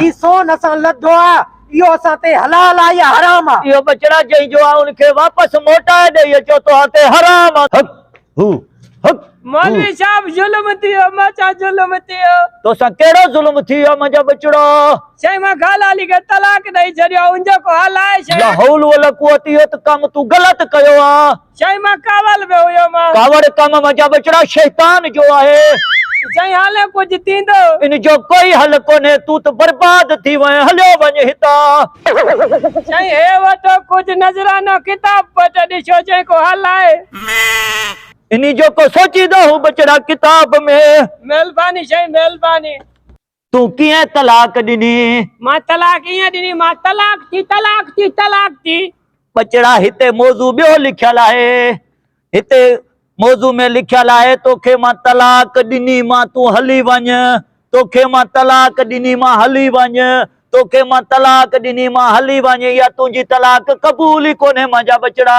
هي سون اسان لڌو آ، اهو اسان تي حلال آ يا حرام آ؟ اهو ٻچڙا جنهن جو آ ان کي واپس موٽائي ڏئي اچو توهان تي حرام آ. حق هو حق هو. مولوي صاحب ظلم ٿيو مان سان ظلم ٿيو. توسان ڪهڙو ظلم ٿي ويو آ منهنجا ٻچڙا. شيخ مان خالا علي کي طلاق ڏئي ڇڏيو آ ان جو ڪو حل آهي شيخ. لا حول ولا قوت اهو ته ڪم تون غلط ڪيو آ. چئي مان ڪاول به هيو مان. ڪاوڙ ڪم منجهان ٻچڙا شيطان جو آهي. چئي هالئين ڪجهه ٿيندو. ان جو ڪوئي حل ڪونهي تون ته برباد ٿي وئين هليو وڃ هتان. چئي هي وٺو ڪجهه نذرانو ڪتاب پٽ ڏسو چئي ڪو حل آهي. انهي جو ڪو سوچيندو هون ٻچڙا ڪتاب ۾. مهرباني چئي مهرباني. تون ڪيئن طلاق ڏني؟ مان طلاق ايئن ڏني، مان طلاق ٿي، طلاق ٿي، طلاق ٿي. ٻچڙا هتي موضوع ٻيو لکيل آهي، هتي موضوع ۾ لکيل آهي توکي مان طلاق ڏني مان تون هلي وڃ، توکي مان طلاق ڏني مان هلي وڃ، توکي مان طلاق ڏني مان هلي وڃ، اها تنهنجي طلاق قبول ئي ڪونهي مانجا ٻچڙا.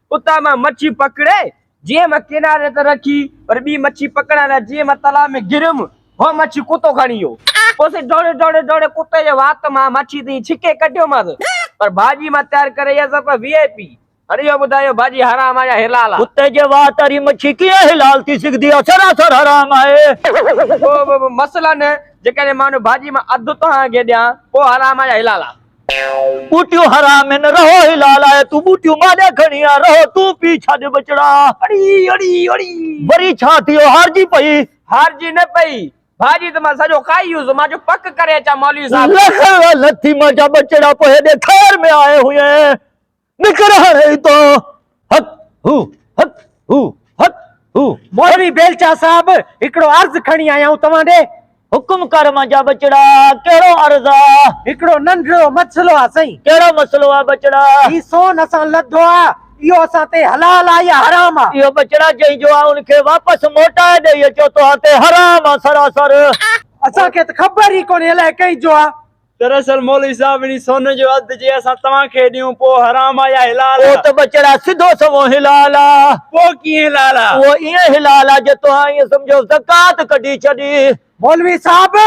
اتان مان مڇي پڪڙي جيئن مان ڪناري تي رکي وري ٻي مڇي پڪڙڻ لاء جيئن مان تلاء ۾ گريم هوء مڇي ڪتو کڻي ويو. پوء سائين ڊوڙي ڊوڙي ڊوڙي ڪتي جي وات مان مڇي تائين ڇڪي ڪڍيومانس پر ڀاڄي مان تيار ڪري ايئس ته پوء وي آء پي هاڻي اهو ٻڌايو ڀاڄي حرام آهي يا حلال آهي؟ ڪتي جي وات واري مڇي ڪيئن حلال ٿي سگهندي آهي سراسر حرام آهي. پوء مثلاً جيڪڏهن مان ان ڀاڄي مان اڌ توهان کي ڏيان پوء حرام آهي يا حلال آهي؟ ٻوٽيون حرام هن رهو حلال آهي تون ٻوٽيون ماليا کڻي آ رهو تون پي ڇڏ ٻچڙا اڙي اڙي اڙي. وري ڇا ٿيو هارجي پئي. هارجي نه پئي ڀاڄي ته مان سڄو کائي ويس مان چيو پڪ ڪري اچان مولوي صاحب. لک لعنت ٿي مانجا ٻچڙا پوء هيڏي خير ۾ آئي هئين نڪر هاڻي هتان هت هو هت هو هت هو. مولوي بيلچا صاحب هڪڙو عرض کڻي آيائون توهان ڏي. حڪم ڪر منهنجا ٻچڙا ڪهڙو عرض آ؟ هڪڙو ننڍڙو مسئلو آ سائين. ڪهڙو مسئلو آ ٻچڙا؟ هي سون اسان لڌو آ اهو اسان تي حلال آ يا حرام آ؟ اهو ٻچڙا جنهن جو آ ان کي واپس موٽائي ڏئي اچو توهان تي حرام آ سراسر. اسان کي ته خبر ئي ڪونهي الائي ڪنهن جو آ. دراصل مولوي صاحب انهي سون جو اڌ جي اسان توهان کي ڏيون پوء حرام آ يا حلال آ؟ پوء ته ٻچڙا سڌو سنئون حلال آ. پوء ڪيئن حلال آ؟ پوء ائين حلال آ جو توهان ائين سمجهو زڪوات ڪڍي ڇڏي. مولوي صاحب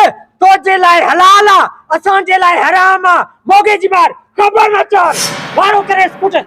تو جي لاء حلال آ اسان جي لاء حرام آ. موڳي جي مار خبر نه چار وارو ڪريس ڪٽ.